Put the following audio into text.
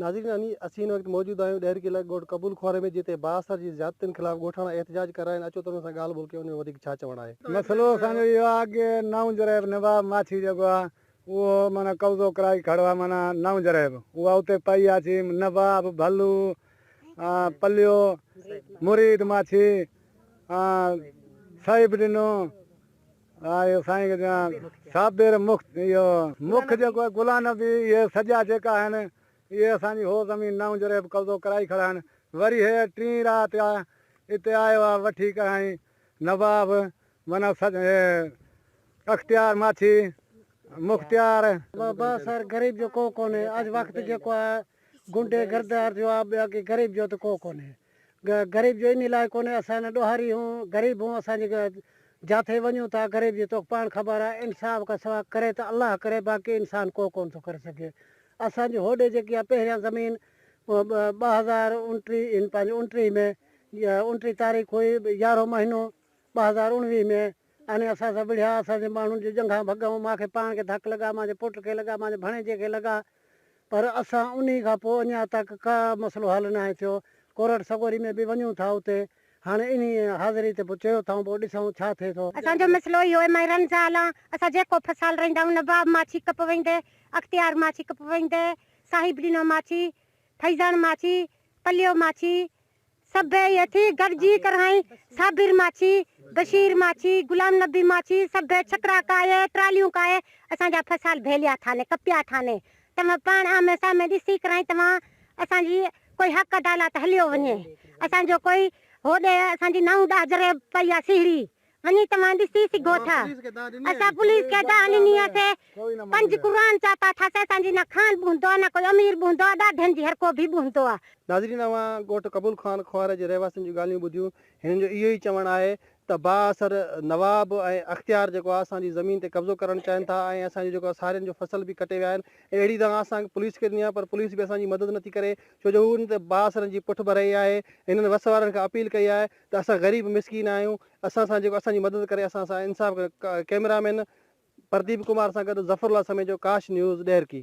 ناظرين اني اسين هن وقت موجود آهيون ڏهرڪي علائقي ڳوٺ قبول خواري ۾ جتي بااثر جي زيادتين خلاف ڳوٺاڻا احتجاج ڪري رهيا آهن اچو ته انهن سان ڳالهه ٻولهه ڪيون انهن جو وڌيڪ ڇا چوڻ آهي. مسئلو اسان جو اهو آهي ڪي نئون جريب نواب ماڇي جيڪو آهي اهو معنيٰ قبضو ڪرائي کڙو آهي معنيٰ نئون جريب اها اتي پئي آهي ڇي نواب ڀلو پليو مريد ماڇي صيب ڏنو آء سائين کي چوان صابر مخت اهو مک جيڪو آهي گلا نبي اهي سڄا جيڪا آهن اهي اسان جي هو زمين نئون جري به قبضو ڪرائي کڙا آهن وري هي ٽين رات آ اتي آيو آ وٺي ڪرائين نواب معنيٰ سڄ هي اختيار ماڇي مختيار. بابا سر غريب جو ڪو ڪونهي اڄ وقت جيڪو آهي گنڊي گردار جو آ ٻيا ڪي غريب جو ته ڪو ڪونهي. غريب جو انهي لاء ڪونهي اسان نه ڏوهاري هون غريب هون اسان جي جاٿي وڃون ٿا غريب جي توکي پاڻ خبر آهي انصاف کان سوا ڪري ته الله ڪري باقي انسان ڪو ڪونه ٿو ڪري سگهي اسان جي هوڏي جيڪي آهي پهريان زمين ٻه هزار انٽيهه ان پنهنجي انٽيهه ۾ انٽيهه تاريخ هئي يارهون مهينو ٻه هزار اڻويهه ۾ اني اسان سان وڙهيا اسان جي ماڻهن جي ڄنگهان ڀڳائون مان کي پاڻ کي ڌڪ لڳا مان جي پٽ کي لڳا مان جي ڀڻيجي کي لڳا پر اسان انهي کان پوء اڃا تڪ ڪا مسئلو حل ناهي ٿيو. ڪورٽ سڳوري ۾ به وڃون ٿا اتي هاڻي انهي حاضري تي به چيو ٿائون پوء ڏسون ڇا ٿئي ٿو. اسان جو مسئلو اهو ايم آء رن جا هالا اسان جيڪو فصال رهندا آهيون نواب ماڇي ڪپ ويندي اختيار ماڇي ڪپ ويندي صاحب ڏنو ماڇي فيضاڻ ماڇي پليو ماڇي سڀئي هٿي گڏجي ڪرهائين، صابر ماڇي، بشير ماڇي، غلام نبي ماڇي، سڀئي ڇڪڙا ڪاهي، ٽراليون ڪاهي، اسان جا فصال ڀيليا ٿا ني ڪپيا ٿا ني، توهان پاڻ آمهين سامهين ڏسي ڪرهائين، توهان اسان جي ڪوئي حق عدالات هليو وڃي، اسان جو ڪوئي هوڏي اسان جي نائون ڏاهه جري پئي آ سيهڙي، وڃي توهان ڏسي سگهو ٿا اسان پوليس کي ادا ڏني هئسي پنج قرآن چاتا ٿاسي اسان جي نه خان به هوندو آ نه ڪوئي امير به هوندو آ ڏاڍين جي هر ڪو به هوندو آ. ناظرين اوهان ڳوٺ قبول خان کوهر جي رهواسين جون ڳالهيون ٻڌيون هنن جو اهو ئي چوڻ آهي ته بااثر نواب ۽ اختيار جيڪو آ اسان جي زمين تي قبضو ڪرڻ چاهين ٿا ۽ اسان جو جيڪو آ سارين جو فصل به ڪٽي ويا آهن ۽ اهڙي دانهن اسان پوليس کي ڏني آ پر پوليس به اسان جي مدد نٿي ڪري ڇو جو هو هن تي بااثرن جي پٺڀرائي آهي هنن وس وارن کان اپيل ڪئي آهي ته اسان غريب مسڪين آهيون اسان سان جيڪو اسان جي مدد ڪري اسان سان انصاف ڪري ڪئميرا مين پرديپ ڪمار سان گڏ ظفر الله سميجو ڪاش نيوز ڏهرڪي.